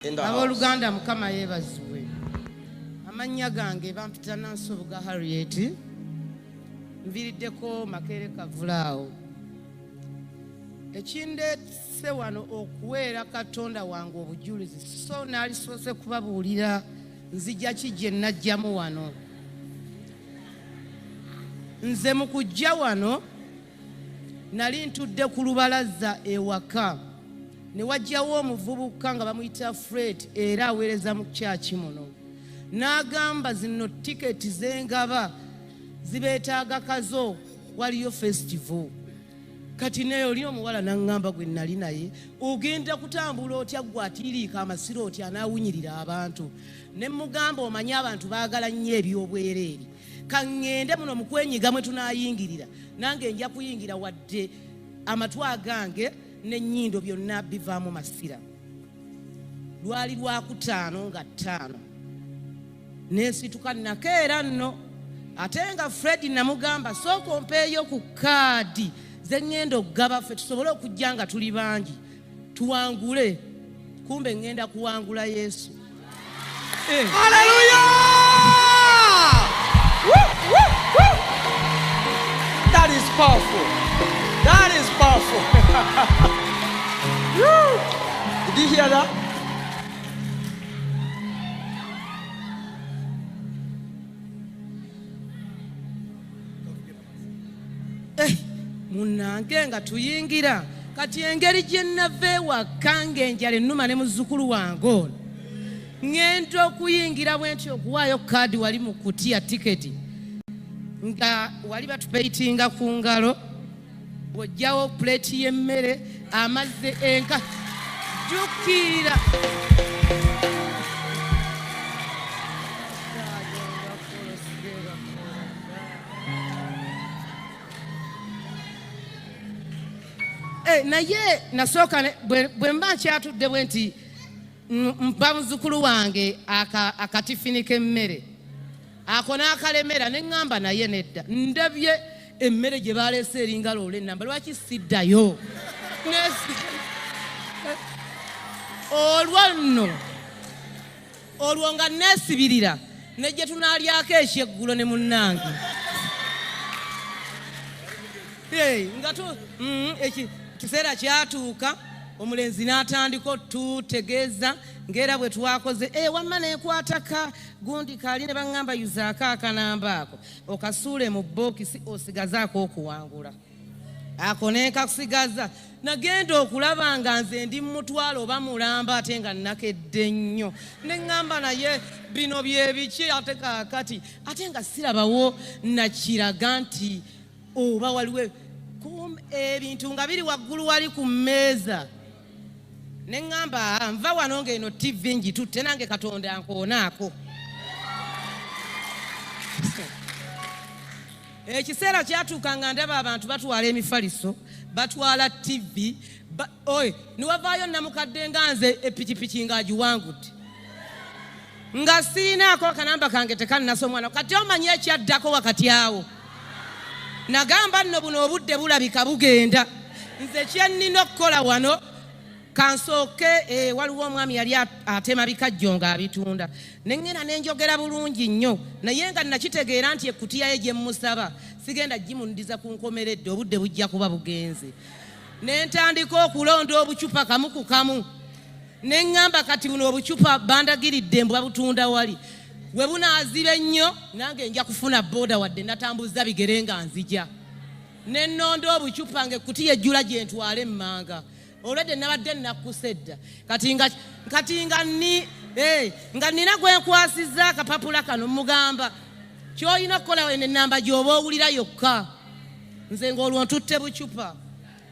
abooluganda mukama yeebazibwe amannya gange bampita nansubuga harriet nviriddeko makeere kavulaawo ekindeese wano okuweera katonda wange obujulizi so naalisoose kubabuulira nzija ki gye najjamu wano nze mu kujja wano Nali ntudde ku lubalaza ewaka ne wajjawo omuvubuka nga bamuyita Fred era aweereza mu kyaki muno. N'agamba zino tiketi zengaba zibeetaaga kazo waliyo festival. Kati naye oli omuwala n'aŋŋamba gwe nali naye ogenda kutambula otya gwe atiiriika amasiro otya anaawunyirira abantu. Ne mmugamba omanyi abantu baagala nnyo eby'obwereere. kaŋŋende muno mu kwenyiga mwe tunaayingirira nange nja kuyingira wadde amatu agange n'ennyindo byonna bivaamu masira lwali lwakutaano nga ttaano nensituka nakeera nno ate nga fred namugamba sooka ompeeyo ku kaadi ze ŋŋenda okugaba ffe tusobole okujja nga tuli bangi tuwangule kumbe ngenda kuwangula yesu eh. aleluya that is powerful that is powerful did you hear that eh, munange nga tuyingira kati engeri gye nnava ewakka ng'enjala ennuma ne muzzukulu wange ono ŋŋenda okuyingira bwe nti okuwaayo kaadi wali mu kutiya tiketi nga wali batupeyitinga ku ngalo bw'ojjawo puleeti y'emmere amazzi enka jukira Eh, naye nasooka bwe mba nkyatudde bwe nti mpa muzukulu wange akatifini k'emmere ako n'akalemera ne ŋŋamba naye nedda ndabye emmere gye baleese eringa loola ennamba lwaki siddayo olwo nno olwo nga neesibirira ne gye tunaalyako ekyeggulo ne munnange nga mm, ekiseera kyatuuka omulenzi n'atandika otutegeeza ng'era bwe twakoze e wamma nekwataka gundi kaali ne baŋŋamba yuzaako akanamba ako okasuule mu bookisi osigazaako okuwangula ako nekakusigaza nagenda okulaba nga nze ndi mumutwalo oba mulamba ate nga nakedde nnyo neŋŋamba naye bino byebiki ate kakati ate nga sirabawo nakiraga nti oba waliwo ebintu nga biri waggulu wali ku mmeeza ne ŋŋamba ah, nva wano ng'eno ttivi ngitutte nange katonda nkoonaako ekiseera kyatuuka nga ndaba abantu batwala emifaliso batwala ttivi oy niwavaayo namukadde nga nze epikipiki ng'agiwangudde nga sirinaako akanamba kange tekanasa omwana kati omanyi ekyaddako wakati awo nagamba nno buno obudde bulabika bugenda nze kyennina okukola wano kansooke eh, waliwo omwami yali atema bikajjo nga abitunda nengenda nenjogera bulungi nnyo naye nga nakitegeera nti ekutiya ye gyemusaba sigenda gimundiza ku nkomeredde obudde bujja kuba bugenze ne ntandika okulonda obucupa kamu ku kamu ne ŋŋamba kati buno obucupa bandagiridde mbwa butunda wali we bunaaziba ennyo nange nja kufuna booda wadde natambuza bigere nga nzija ne nnonda obucupa nga ekkuti yejjula gye ntwala emmanga olwedde nabadde nnakkusa edda kati nga ni eh, nga nina gwe nkwasizza akapapula kano mugamba ky'olina okukola eno ennamba gy'oba owulira yokka nze ng'olwo ntutte bucupa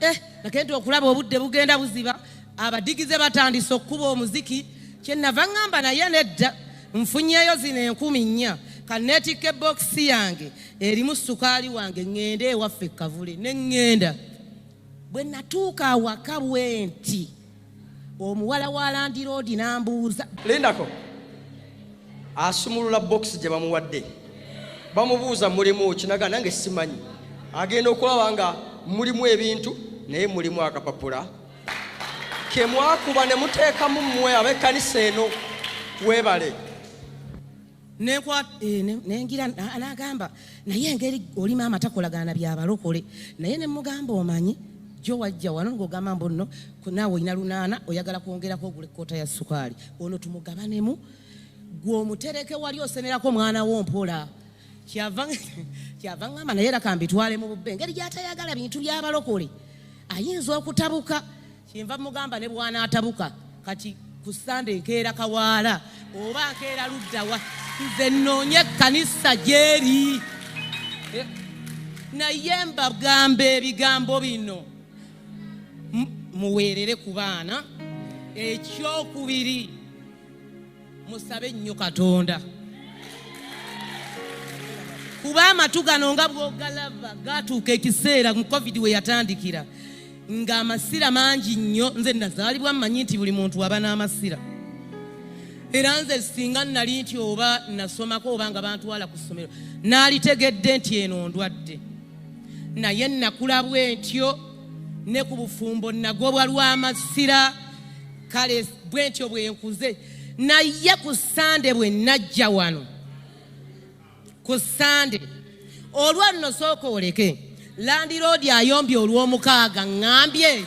eh, nakenti okulaba obudde bugenda buziba abadigize batandise okukuba omuziki kyenava ŋŋamba naye nedda nfunyeyo zino enkumi nnya kaneetikka ebokisi yange erimu sukaali wange ŋŋende ewaffe kavule ne ŋŋenda bwe natuuka awaka bwenti omuwala wa landiroodi n'ambuuza lindako asumulula bokisi gye bamuwadde bamubuuza mulimu kinaga nange simanyi agenda okulaba nga mulimu ebintu naye mulimu akapapula kemwakuba ne muteekamu mmwe ab'ekkanisa eno weebale Eh, nengira nagamba naye engeri oli maama takolagana byabalokole naye nemugamba omanyi jo wajja wano ngogamba mbu nno naawe olina lunaana oyagala kwongerako ogula ekkoota ya sukaali ono tumugabanemu gwe omutereke wali osenerako omwana wo mpola kyava ngamba naye era kambitwale mu bubbe engeri gyatayagala bintu byabalokole ayinza okutabuka kyenva mugamba ne bwanaatabuka kati ku sande nkeera kawaala oba nkeera luddawa nze nnoonye ekkanisa gyeri eh, naye mbagamba ebigambo bino muweerere ku baana ekyokubiri musabe nnyo katonda kuba amatu gano nga bwogalaba gatuuka ekiseera mu covid we yatandikira nga amasira mangi nnyo nze nazaalibwa mmanyi nti buli muntu aba n'amasira era nze singa nali nti oba nasomako oba nga bantwala ku ssomero naalitegedde nti eno ndwadde naye nakula bwentyo ne ku bufumbo nagobwa lw'amasira kale bwentyo bwenkuze naye ku sande bwe najja wano ku sande olwa nno sooka oleke landiroodi ayombye olw'omukaaga ŋambye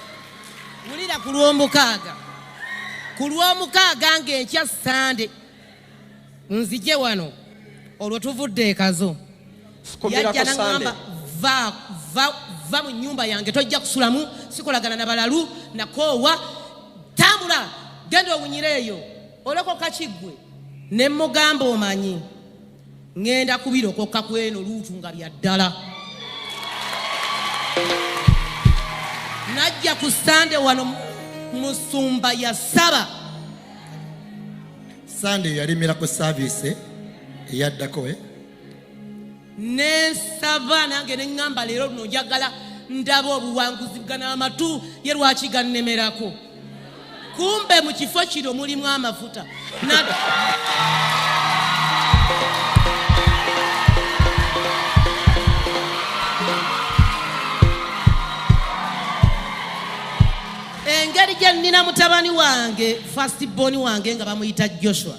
wulira ku lw'omukaaga ku lw'omukaaga ng'enkya sande nzije wano olwo tuvudde ekazo yajja naŋamba va mu nyumba yange tojja kusulamu sikolagana na balalu nakoowa tambula genda owunyire eyo olokoka kiggwe ne mugamba omanyi Ngenda kubirokoka kweno luutu nga bya ddala. Najja ku Sande wano musumba ya saba. Sande yalimira ku service eyaddako eh? Ne saba nange ne ngamba lero luno njagala ndaba obuwanguzi bwa n'amatu ye lwaki gannemerako. kumbe mu kifo kino mulimu amafuta engeri gye nnina mutabani wange fasitibbooni wange nga bamuyita joshua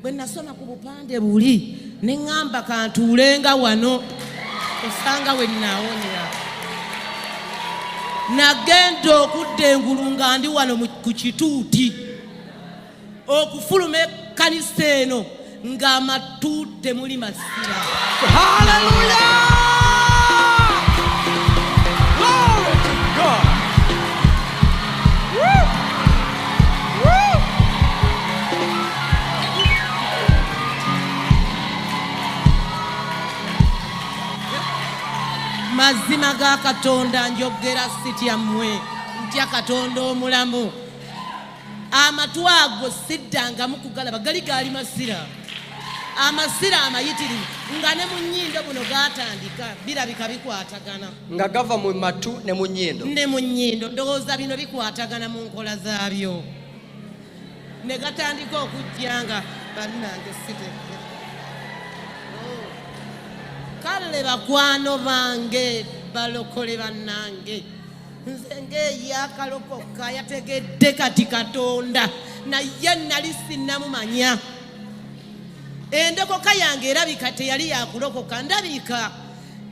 bwe nasoma ku bupande buli ne ŋŋamba kantuulenga wano osanga we nnaawonyera nagenda okudda engulu nga ndi wano ku kituuti okufuluma ekkanisa eno ng'amatuuti temuli masira mazima ga katonda njogera sitya mmwe ntya katonda omulamu amatu ago siddangamu kugalaba gali gaali masira amasira amayitirivu nga ne mu nyindo buno gatandika birabika bikwatagana nga gava mu matu ne mu nyindo ne mu nyindo ndowooza bino bikwatagana mu nkola zaabyo ne gatandika okujja nga bannange siteke oh. kale bakwano bange balokole bannange nze ng'eyakalokoka yategedde kati katonda naye nali sinnamumanya endokoka yange erabika teyali yakulokoka ndabika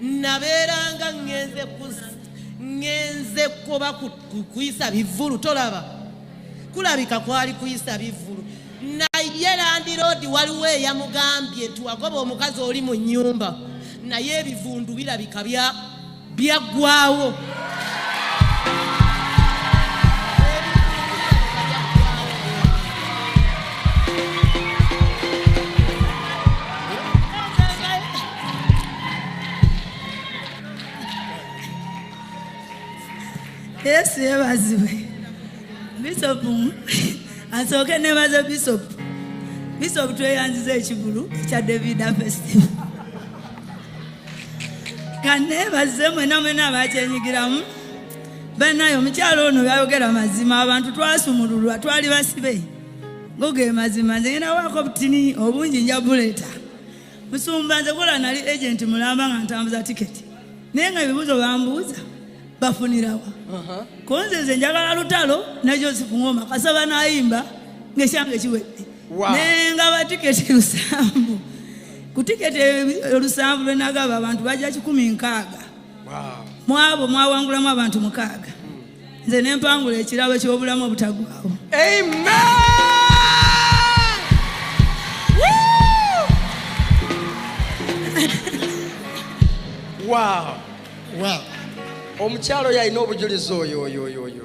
nabeeranga ngenze ngenze kuba kuyisa bivulu tolaba kulabika kwali kuyisa bivulu naye landiroodi waliwo eyamugambye nti wagoba omukazi oli mu nyumba naye ebivundu birabika bya byaggwawo yesu yebazibwe bisopu asooke nebaze bisopu bisopu tweyanziza ekigulu ekya davida festival kanneebaze mwena mwena abakyenyigiramu banaye omukyalo ono byayogera mazima abantu twasumululwa twali basibe goge mazima nze ngenda waako obutini obungi nja buleeta musumba nze kola nali agenti mulamba nga ntambuza tiketi naye nga ebibuuzo bambuuza bafunirawa uh-huh. konze nze njagala lutalo najo sifungoma kasaba nayimba ngesyange kiwedde naye nga batiketi lusanvu ku tiketi olusanvu lwenagaba abantu bajja kikumi nkaaga mwabo mwawangulamu abantu mukaaga nze nempangula ekirabo kyobulamu obutagwawo omukyalo yalina obujulizi oyo oyo oyo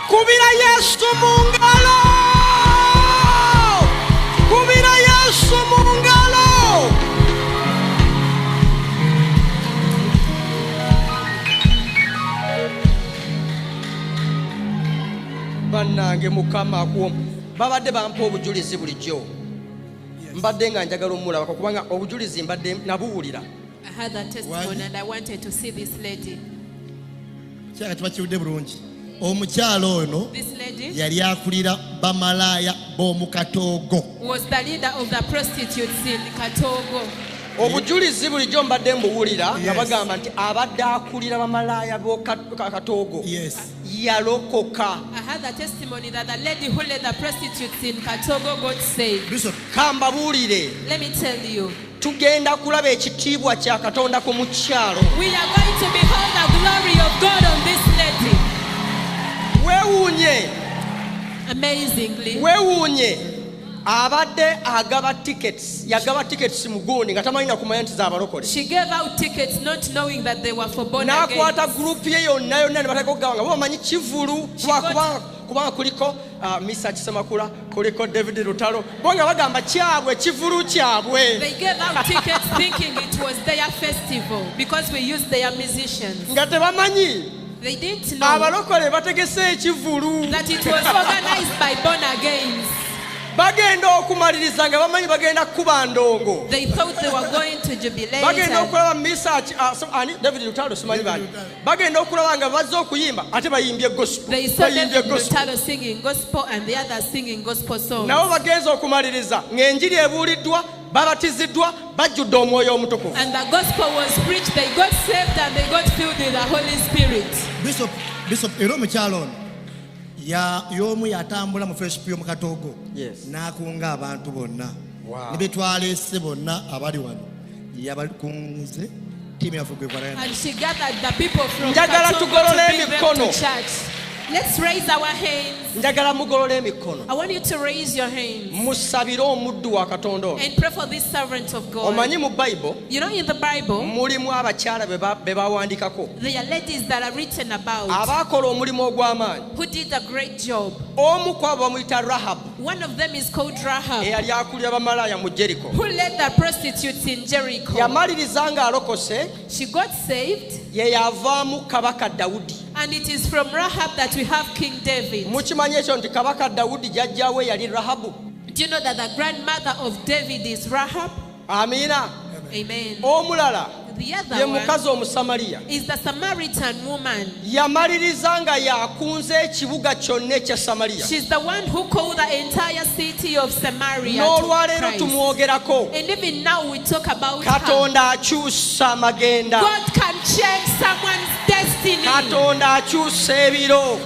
Kubira Yesu mu ngalo, kubira Yesu mu ngalo. Bannange Mukama akuwa babadde bampa obujulizi bulijjo mbadde nga njagala omulabako kubanga obujulizi mbadde nabuwulira I had that testimony and I wanted to see this lady. kiraka kiba kiwudde bulungi omukyala ono yali akulira bamalaaya b'omu katoogo obujulizi bulijjo mbadde mbuwulira nga bagamba nti abadde akulira bamalaaya b'okatoogo yalokoka kambabuulire tugenda kulaba ekitiibwa kya katonda ku mukyalo wewuunye wewuunye abadde agaba tickets yagaba tickets mugundi nga tamanyi nakumanya nti zabalokole nakwata gurupu ye yonna yonna nebatekogaba nga bamanyi kivulu lwakuba kubanga kuliko uh, misa kisemakula kuliko david lutalo bo nga bagamba kyabwe kivulu kyabwe nga tebamanyi abalokole bategese ekivulu bagenda okumaliriza nga bamanyi bagenda kukuba ndongo bagenda okulaba misa uh, david lutalo simanyi bani bagenda okulaba nga bazze okuyimba ate bayimbye gospelnabo bagenza okumaliriza ng'enjiri ebuuliddwa babatiziddwa bajjudde omwoyo omutukuvu era omukyalo ono y'omu yatambula mu fesipu y'omu katoogo n'akunga abantu bonna ne be twaleese bonna abali wano yabakunze tiimu yaffe gwegwalanjagala tugolola emikono Let's raise our hands. njagala mugolola emikono musabire omuddu wa katonda oyo omanyi mu bayibuli You know, in the Bible, mulimu abakyala be bawandiikako abaakola omulimu ogw'amaanyi omu ku abo bamuyita rahabu eyali akulira bamalaaya mu jeriko yamaliriza ng'alokose ye yavaamu kabaka dawudi And it is from Rahab that we have King David. Mukimanyi ekyo nti kabaka Dawudi jajjawe yali Rahabu. Do you know that the grandmother of David is Rahab? amiina omulala ye mukazi omusamaliya yamaliriza nga yakunze ekibuga kyonna ekya samaliya n'olwaleero tumwogerako katonda akyusa amagenda katonda akyusa ebiro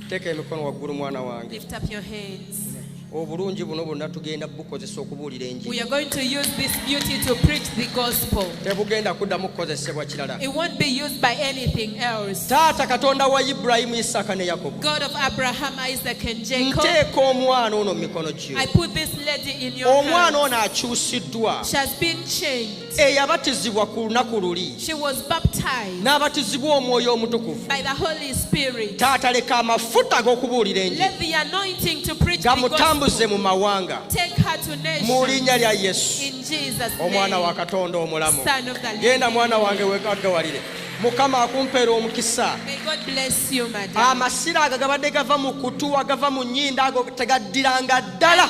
teeka emikono waggulu mwana wange Lift up your hands. obulungi buno bwonna tugenda bukozesa okubuulira enjiri We are going to use this beauty to preach the gospel. tebugenda kuddamu kukozesebwa kirala It won't be used by anything else. taata katonda wa ibulayimu isaaka ne yakobo God of Abraham, Isaac, and Jacob, nteeka omwana ono mu mikono gyo I put this lady in your omwana hands. ono akyusiddwa She has been changed. eyabatizibwa ku lunaku luli n'abatizibwa omwoyo omutukuvu taata leka amafuta ag'okubuulira enjigamutambuze mu mawanga mu linnya lya yesu omwana wa katonda omulamu genda mwana wange wegagawalire mukama akumpeera omukisa amasira ago gabadde gava mu kutuwa gava mu nyinda ago tegaddiranga ddala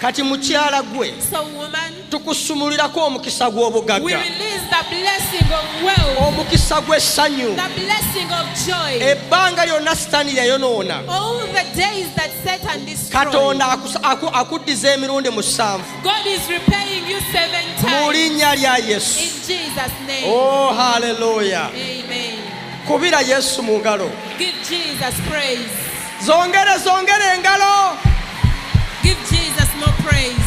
kati mukyala gwe tukusumulirako omukisa gw'obugagga omukisa gw'essanyu ebbanga lyonna sitaani yayonoona katonda akuddiza emirundi musanvu mu linnya lya yesu oh haleluya kubira yesu mu ngalo Zongere zongere engalo. Give Jesus more praise.